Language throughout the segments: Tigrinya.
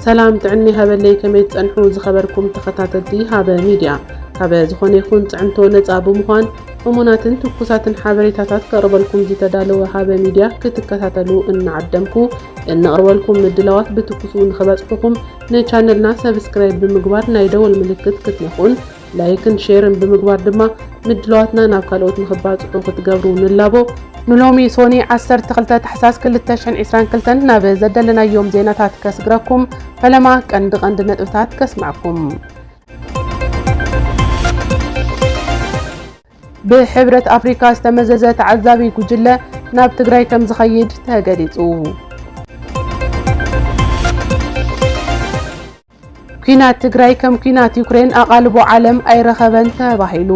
ሰላም ጥዕና ይሃበለይ ከመይ ትጸንሑ ዝኸበርኩም ተኸታተልቲ ሃበ ሚድያ ካበ ዝኾነ ይኹን ጽዕንቶ ነጻ ብምዃን እሙናትን ትኩሳትን ሓበሬታታት ከቕርበልኩም ዝተዳለወ ሃበ ሚድያ ክትከታተሉ እናዓደምኩ እንቕርበልኩም ምድላዋት ብትኩሱ ንኽበጽሑኹም ንቻነልና ሰብስክራይብ ብምግባር ናይ ደወል ምልክት ክትነኹን ላይክን ሼርን ብምግባር ድማ ምድላዋትና ናብ ካልኦት ንኽባፅሑ ክትገብሩ ንላቦ። ንሎሚ ሶኒ ዓሰርተ ክልተ ታሕሳስ ክልተ ሽሕን ዒስራን ክልተን ናብ ዘደለናዮም ዜናታት ከስግረኩም ፈለማ ቀንዲ ቀንዲ ነጥብታት ከስመዐኩም። ብሕብረት ኣፍሪካ ዝተመዘዘ ተዓዛቢ ጉጅለ ናብ ትግራይ ከምዝኸይድ ተገሊፁ። ኲናት ትግራይ ከም ኲናት ዩክሬን ኣቓልቦ ዓለም ኣይረኸበን ተባሂሉ።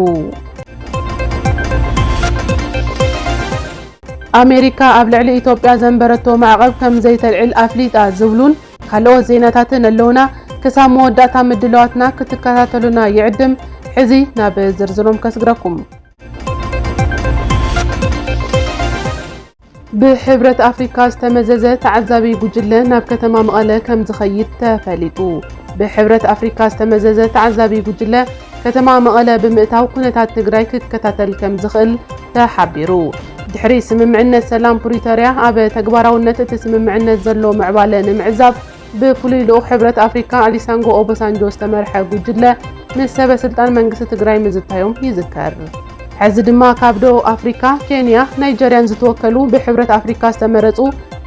ኣሜሪካ ኣብ ልዕሊ ኢትዮጵያ ዘንበረቶ ማዕቐብ ከም ዘይተልዕል ኣፍሊጣ ዝብሉን ካልኦት ዜናታትን ኣለውና። ክሳብ መወዳእታ ምድላዋትና ክትከታተሉና ይዕድም። ሕዚ ናብ ዝርዝሮም ከስግረኩም። ብሕብረት ኣፍሪካ ዝተመዘዘ ተዓዛቢ ጉጅለ ናብ ከተማ መቐለ ከም ዝኸይድ ተፈሊጡ። ብሕብረት ኣፍሪካ ዝተመዘዘ ተዓዛቢ ጉጅለ ከተማ መቐለ ብምእታው ኩነታት ትግራይ ክከታተል ከም ዝኽእል ተሓቢሩ። ድሕሪ ስምምዕነት ሰላም ፕሪቶርያ ኣብ ተግባራውነት እቲ ስምምዕነት ዘሎ ምዕባለ ንምዕዛብ ብፍሉይ ልኡኽ ሕብረት ኣፍሪካ ኣሊሳንጎ ኦበሳንጆ ዝተመርሐ ጉጅለ ምስ ሰበ ስልጣን መንግስቲ ትግራይ ምዝታዮም ይዝከር። ሕዚ ድማ ካብ ደቡብ ኣፍሪካ፣ ኬንያ፣ ናይጀርያን ዝተወከሉ ብሕብረት ኣፍሪካ ዝተመረፁ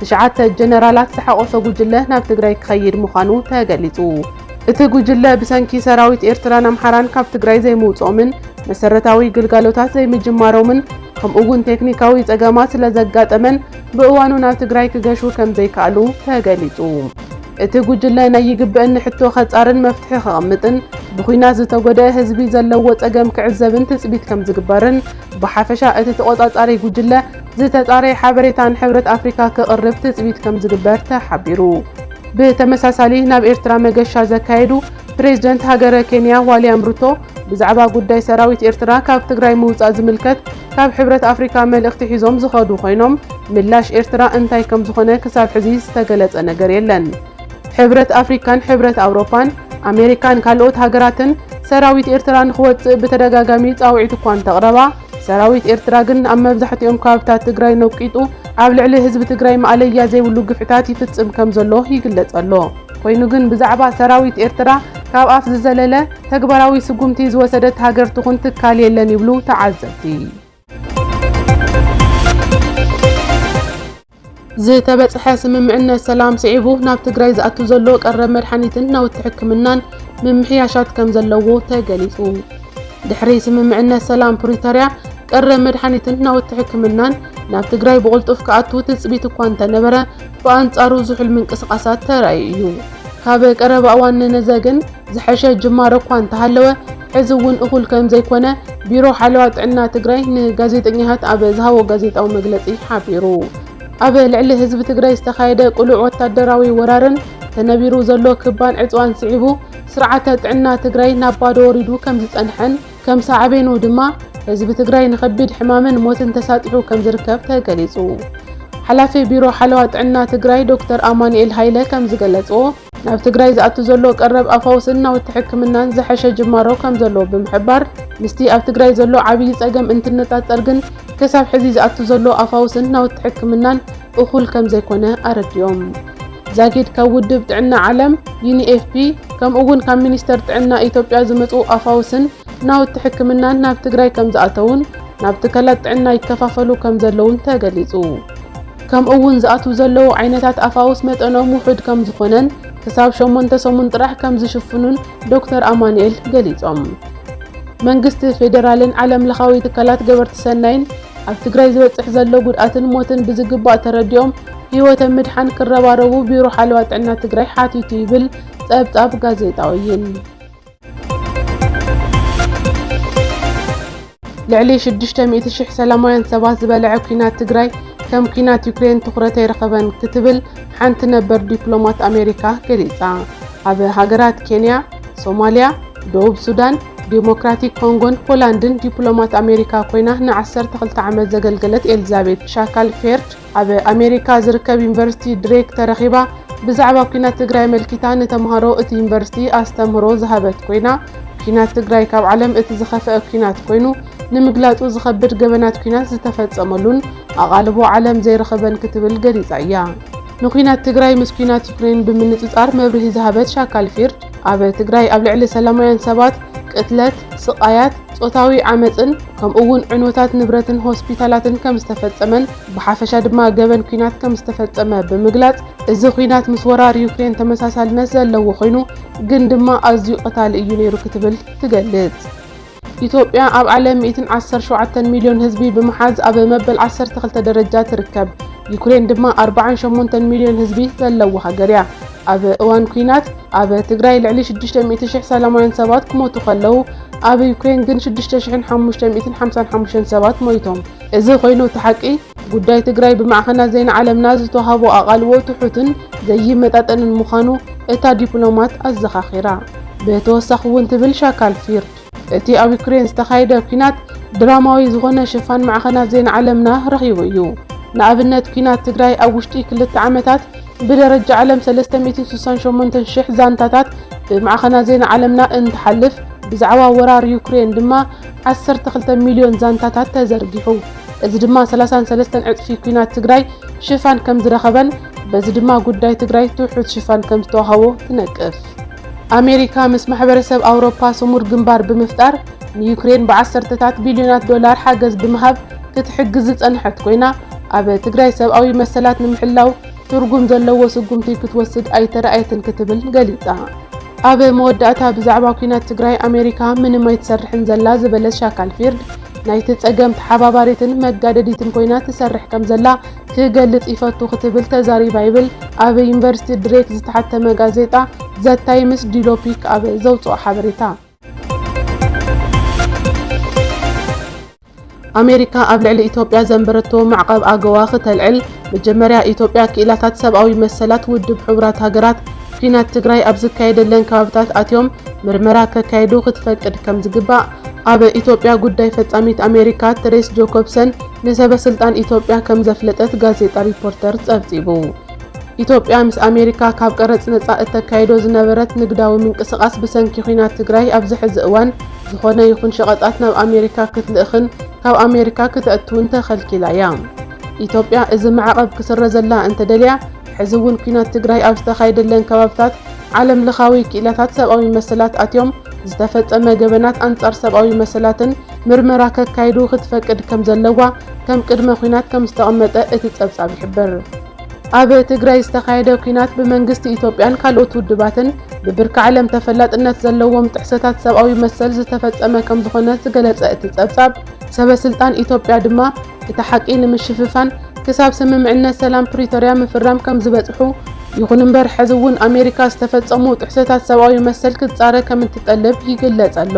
ትሽዓተ ጀነራላት ዝሓቖፈ ጉጅለ ናብ ትግራይ ክኸይድ ምዃኑ ተገሊፁ። እቲ ጉጅለ ብሰንኪ ሰራዊት ኤርትራን ኣምሓራን ካብ ትግራይ ዘይምውፅኦምን መሰረታዊ ግልጋሎታት ዘይምጅማሮምን ከምኡ እውን ቴክኒካዊ ፀገማት ስለዘጋጠመን ብእዋኑ ናብ ትግራይ ክገሹ ከምዘይከኣሉ ተገሊፁ። እቲ ጉጅለ ናይ ይግበእኒ ሕቶ ከፃርን መፍትሒ ከቐምጥን ብኹናት ዝተጎደእ ህዝቢ ዘለዎ ፀገም ክዕዘብን ትፅቢት ከምዝግበርን ብሓፈሻ እቲ ተቖፃፃሪ ጉጅለ ዝተፃረየ ሓበሬታ ንሕብረት ኣፍሪካ ክቕርብ ትፅቢት ከምዝግበር ተሓቢሩ። ብተመሳሳሊ ናብ ኤርትራ መገሻ ዘካየዱ ፕሬዝደንት ሃገረ ኬንያ ዋልያም ሩቶ ብዛዕባ ጉዳይ ሰራዊት ኤርትራ ካብ ትግራይ ምውጻእ ዝምልከት ካብ ሕብረት ኣፍሪካ መልእኽቲ ሒዞም ዝኸዱ ኮይኖም ምላሽ ኤርትራ እንታይ ከምዝኾነ ክሳብ ሕዚ ዝተገለጸ ነገር የለን። ሕብረት ኣፍሪካን ሕብረት ኣውሮፓን፣ ኣሜሪካን ካልኦት ሃገራትን ሰራዊት ኤርትራ ንኽወጽእ ብተደጋጋሚ ጻውዒት እኳ እንተቕረባ ሰራዊት ኤርትራ ግን ኣብ መብዛሕቲኦም ከባብታት ትግራይ ነቂጡ ኣብ ልዕሊ ህዝቢ ትግራይ ማእለያ ዘይብሉ ግፍዕታት ይፍጽም ከምዘሎ ይግለጽ ኣሎ። ኮይኑ ግን ብዛዕባ ሰራዊት ኤርትራ ካብ ኣፍ ዝዘለለ ተግባራዊ ስጉምቲ ዝወሰደት ሃገር ትኹን ትካል የለን ይብሉ ተዓዘብቲ። ዝተበፅሐ ስምምዕነት ሰላም ስዒቡ ናብ ትግራይ ዝኣቱ ዘሎ ቀረብ መድሓኒትን ናውቲ ሕክምናን ምምሕያሻት ከም ዘለዎ ተገሊፁ። ድሕሪ ስምምዕነት ሰላም ፕሪቶርያ ቀረብ መድሓኒትን ናውቲ ሕክምናን ናብ ትግራይ ብቕልጡፍ ክኣቱ ትፅቢት እኳ እንተነበረ ብኣንፃሩ ዝሑል ምንቅስቓሳት ተራእዩ እዩ። ካብ ቀረባ እዋን ንነዘ ግን ዝሐሸ ጅማሮ እኳ እንተሃለወ ሕዚ እውን እኹል ከምዘይኮነ ቢሮ ሓለዋ ጥዕና ትግራይ ንጋዜጠኛታት ኣብ ዝሃቦ ጋዜጣዊ መግለፂ ሓቢሩ። ኣብ ልዕሊ ህዝቢ ትግራይ ዝተኻየደ ቅሉዕ ወታደራዊ ወራርን ተነቢሩ ዘሎ ክባን ዕፅዋን ስዒቡ ስርዓተ ጥዕና ትግራይ ናብ ባዶ ወሪዱ ከምዝፀንሐን ከም ሳዕቤኑ ድማ ህዝቢ ትግራይ ንኸቢድ ሕማምን ሞትን ተሳጢሑ ከምዝርከብ ተገሊፁ። ሓላፊ ቢሮ ሓለዋ ጥዕና ትግራይ ዶክተር ኣማኑኤል ሃይለ ከምዝገለፅዎ፣ ናብ ትግራይ ዝኣቱ ዘሎ ቀረብ ኣፋውስን ናውቲ ሕክምናን ዝሐሸ ጅማሮ ከምዘሎ ብምሕባር፣ ምስቲ ኣብ ትግራይ ዘሎ ዓብዪ ፀገም እንትነፃፀር ግን ክሳብ ሕዚ ዝኣቱ ዘሎ ኣፋውስን ናውቲ ሕክምናን እኹል ከምዘይኮነ ኣረዲኦም። ዛጊድ ካብ ውድብ ጥዕና ዓለም፣ ዩኒኤፍፒ፣ ከምኡ እውን ካብ ሚኒስቴር ጥዕና ኢትዮጵያ ዝመፁ ኣፋውስን ናውቲ ሕክምናን ናብ ትግራይ ከምዝኣተዉን ናብ ትካላት ጥዕና ይከፋፈሉ ከምዘለዉን ተገሊፁ። ከምኡ'ውን ዝኣትዉ ዘለዉ ዓይነታት ኣፋውስ መጠኖም ውሑድ ከምዝኾነን ክሳብ ሸሞንተ ሰሙን ጥራሕ ከምዝሽፍኑን ዶክተር ኣማኑኤል ገሊፆም። መንግስቲ ፌዴራልን ዓለም ለኻዊ ትካላት ገበርቲ ሰናይን ኣብ ትግራይ ዝበፅሕ ዘሎ ጉድኣትን ሞትን ብዝግባእ ተረዲኦም ህይወተ ምድሓን ክረባረቡ ቢሮ ሓለዋ ጥዕና ትግራይ ሓቲቱ ይብል ፀብፃብ ጋዜጣ ወይን። ልዕሊ ሽዱሽተ ሚእቲ ሽሕ ሰላማውያን ሰባት ዝበልዐ ኲናት ትግራይ ከም ኲናት ዩክሬን ትኹረት ኣይረኸበን ክትብል ሓንቲ ነበር ዲፕሎማት ኣሜሪካ ገሊጻ። ኣብ ሃገራት ኬንያ፣ ሶማልያ፣ ደቡብ ሱዳን፣ ዴሞክራቲክ ኮንጎን ፖላንድን ዲፕሎማት ኣሜሪካ ኰይና ንዓሰርተ ክልተ ዓመት ዘገልገለት ኤልዛቤት ሻካል ፌርድ፣ ኣብ ኣሜሪካ ዝርከብ ዩኒቨርሲቲ ድሬክ ተረኺባ ብዛዕባ ኲናት ትግራይ ኣመልኪታ ንተምሃሮ እቲ ዩኒቨርሲቲ ኣስተምህሮ ዝሃበት ኮይና ኲናት ትግራይ ካብ ዓለም እቲ ዝኸፍአ ኲናት ኮይኑ ንምግላጹ ዝኸብድ ገበናት ኲናት ዝተፈጸመሉን ኣቓልቦ ዓለም ዘይረኸበን ክትብል ገሊጻ እያ። ንኲናት ትግራይ ምስ ኲናት ዩክሬን ብምንጽጻር መብርሂ ዝሃበት ሻካል ፊርድ ኣብ ትግራይ ኣብ ልዕሊ ሰላማውያን ሰባት ቅትለት፣ ስቓያት፣ ጾታዊ ዓመጽን ከምኡ'ውን ዕንወታት ንብረትን ሆስፒታላትን ከም ዝተፈጸመን ብሓፈሻ ድማ ገበን ኲናት ከም ዝተፈጸመ ብምግላጽ እዚ ኲናት ምስ ወራር ዩክሬን ተመሳሳልነት ዘለዎ ኮይኑ ግን ድማ ኣዝዩ ቀታሊ እዩ ነይሩ ክትብል ትገልጽ። ኢትዮጵያ ኣብ ዓለም ሚእትን ዓሰርተ ሸውዓተን ሚልዮን ህዝቢ ብምሓዝ ኣብ መበል ዓሰርተ ክልተ ደረጃ ትርከብ። ዩክሬን ድማ ኣርብዓን ሸሞንተን ሚልዮን ህዝቢ ዘለዎ ሃገር እያ። ኣብ እዋን ኲናት ኣብ ትግራይ ልዕሊ ሽዱሽተ ሚእቲ ሽሕ ሰላማውያን ሰባት ክሞቱ ከለው ኣብ ዩክሬን ግን ሽዱሽተ ሽሕን ሓሙሽተ ሚእትን ሓምሳን ሓሙሽተን ሰባት ሞይቶም። እዚ ኮይኑ እቲ ሓቂ ጉዳይ ትግራይ ብማዕኸናት ዜና ዓለምና ዝተውሃቦ ኣቓልቦ ትሑትን ዘይመጣጠንን ምዃኑ እታ ዲፕሎማት ኣዘኻኺራ። ብተወሳኺ'ውን ትብል ሻካል ፊርድ፣ እቲ ኣብ ዩክሬን ዝተኻየደ ኲናት ድራማዊ ዝኾነ ሽፋን ማዕኸናት ዜና ዓለምና ረኺቡ እዩ። ንኣብነት ኲናት ትግራይ ኣብ ውሽጢ ክልተ ዓመታት ብደረጃ ዓለም ሰለስተ ሚእትን ስሳን ሸሞንተን ሽሕ ዛንታታት ብማዕኸናት ዜና ዓለምና እንትሓልፍ፣ ብዛዕባ ወራር ዩክሬን ድማ ዓሰርተ ክልተ ሚልዮን ዛንታታት ተዘርጊሑ። እዚ ድማ ሰላሳን ሰለስተን ዕፅፊ ኲናት ትግራይ ሽፋን ከምዝረኸበን በዚ ድማ ጉዳይ ትግራይ ትሑት ሽፋን ከምዝተዋሃቦ ትነቅፍ። ኣሜሪካ ምስ ማሕበረሰብ ኣውሮፓ ስሙር ግንባር ብምፍጣር ንዩክሬን ብዓሰርተታት ቢልዮናት ዶላር ሓገዝ ብምሃብ ክትሕግዝ ዝፀንሐት ኮይና ኣብ ትግራይ ሰብኣዊ መሰላት ንምሕላው ትርጉም ዘለዎ ስጉምቲ ክትወስድ ኣይተረኣየትን ክትብል ገሊፃ። ኣብ መወዳእታ ብዛዕባ ኲናት ትግራይ ኣሜሪካ ምንም ኣይትሰርሕን ዘላ ዝበለት ሻካልፊርድ ናይቲ ፀገም ተሓባባሪትን መጋደዲትን ኮይና ትሰርሕ ከምዘላ ክገልጽ ይፈቱ ክትብል ተዛሪባ ይብል ኣብ ዩኒቨርሲቲ ድሬት ዝተሓተመ ጋዜጣ ዘ ታይምስ ዲሎፒክ ኣብ ዘውጽኦ ሓበሬታ። ኣሜሪካ ኣብ ልዕሊ ኢትዮጵያ ዘንበረቶ ማዕቐብ ኣገዋ ክተልዕል፣ መጀመርያ ኢትዮጵያ ክኢላታት ሰብኣዊ መሰላት ውድብ ሕቡራት ሃገራት ኲናት ትግራይ ኣብ ዝካየደለን ከባብታት ኣትዮም ምርመራ ከካይዱ ክትፈቅድ ከምዝግባእ ኣብ ኢትዮጵያ ጉዳይ ፈጻሚት ኣሜሪካ ትሬስ ጆኮብሰን ንሰበ ስልጣን ኢትዮጵያ ከም ዘፍለጠት ጋዜጣ ሪፖርተር ጸብጺቡ። ኢትዮጵያ ምስ ኣሜሪካ ካብ ቀረጽ ነጻ እተካይዶ ዝነበረት ንግዳዊ ምንቅስቓስ ብሰንኪ ኲናት ትግራይ ኣብዚ ሕዚ እዋን ዝኾነ ይኹን ሸቐጣት ናብ ኣሜሪካ ክትልእኽን ካብ ኣሜሪካ ክተእትውን ተኸልኪላ እያ። ኢትዮጵያ እዚ ማዕቐብ ክስረዘላ እንተደልያ ሕዚ እውን ኲናት ትግራይ ኣብ ዝተኻየደለን ከባብታት ዓለም ለኻዊ ክኢላታት ሰብኣዊ መሰላት ኣትዮም ዝተፈጸመ ገበናት ኣንጻር ሰብኣዊ መሰላትን ምርመራ ከካይዱ ክትፈቅድ ከም ዘለዋ ከም ቅድመ ኲናት ከም ዝተቐመጠ እቲ ጸብጻብ ይሕብር። ኣብ ትግራይ ዝተኻየደ ኲናት ብመንግስቲ ኢትዮጵያን ካልኦት ውድባትን ብብርኪ ዓለም ተፈላጥነት ዘለዎም ጥሕሰታት ሰብኣዊ መሰል ዝተፈጸመ ከም ዝኾነ ዝገለጸ እቲ ጸብጻብ፣ ሰበስልጣን ኢትዮጵያ ድማ እቲ ሓቂ ንምሽፍፋን ክሳብ ስምምዕነት ሰላም ፕሪቶርያ ምፍራም ከምዝበጽሑ፣ ይኹን እምበር ሕዚ እውን ኣሜሪካ ዝተፈጸሙ ጥሕሰታት ሰብኣዊ መሰል ክትጻረ ከምትጠልብ ይግለጽ ኣሎ።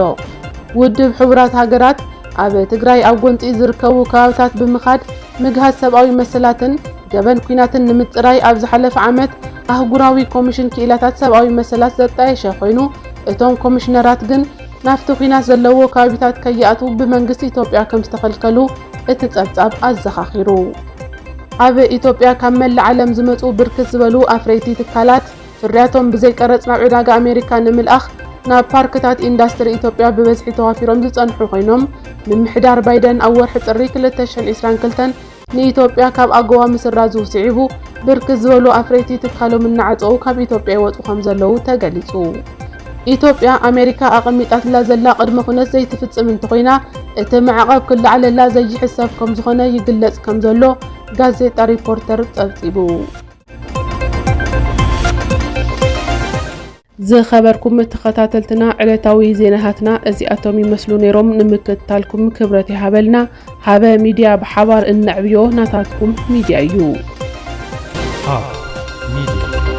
ውድብ ሕቡራት ሃገራት ኣብ ትግራይ ኣብ ጎንጺ ዝርከቡ ከባብታት ብምኻድ ምግሃስ ሰብኣዊ መሰላትን ገበን ኲናትን ንምጽራይ ኣብ ዝሓለፈ ዓመት ኣህጉራዊ ኮሚሽን ክኢላታት ሰብኣዊ መሰላት ዘጣየሸ ኮይኑ እቶም ኮሚሽነራት ግን ናብቲ ኲናት ዘለዎ ከባቢታት ከይኣትዉ ብመንግስቲ ኢትዮጵያ ከምዝተኸልከሉ እቲ ጸብጻብ ኣዘኻኺሩ። ኣብ ኢትዮጵያ ካብ መላእ ዓለም ዝመጽኡ ብርክት ዝበሉ ኣፍረይቲ ትካላት፣ ፍርያቶም ብዘይቀረጽ ናብ ዕዳጋ ኣሜሪካ ንምልኣኽ ናብ ፓርክታት ኢንዳስትሪ ኢትዮጵያ ብበዝሒ ተዋፊሮም ዝጸንሑ ኮይኖም፣ ምምሕዳር ባይደን ኣብ ወርሒ ጥሪ ክልተ ሽሕን ዒስራን ክልተን ንኢትዮጵያ ካብ ኣጎዋ ምስራዙ ስዒቡ ብርክት ዝበሉ ኣፍረይቲ ትካሎም እናዓፀዉ ካብ ኢትዮጵያ ይወፁ ከምዘለዉ ተገሊፁ። ኢትዮጵያ ኣሜሪካ ኣቐሚጣትላ ዘላ ቅድመ ኩነት ዘይትፍፅም እንተኾይና እቲ ማዕቐብ ክለዓለላ ዘይሕሰብ ከምዝኾነ ይግለፅ ከምዘሎ ጋዜጣ ሪፖርተር ፀብፂቡ። ዝኸበርኩም ተኸታተልትና ዕለታዊ ዜናታትና እዚኣቶም ይመስሉ ነይሮም። ንምክትታልኩም ክብረት ይሃበልና። ሃበ ሚድያ ብሓባር እነዕብዮ ናታትኩም ሚድያ እዩ።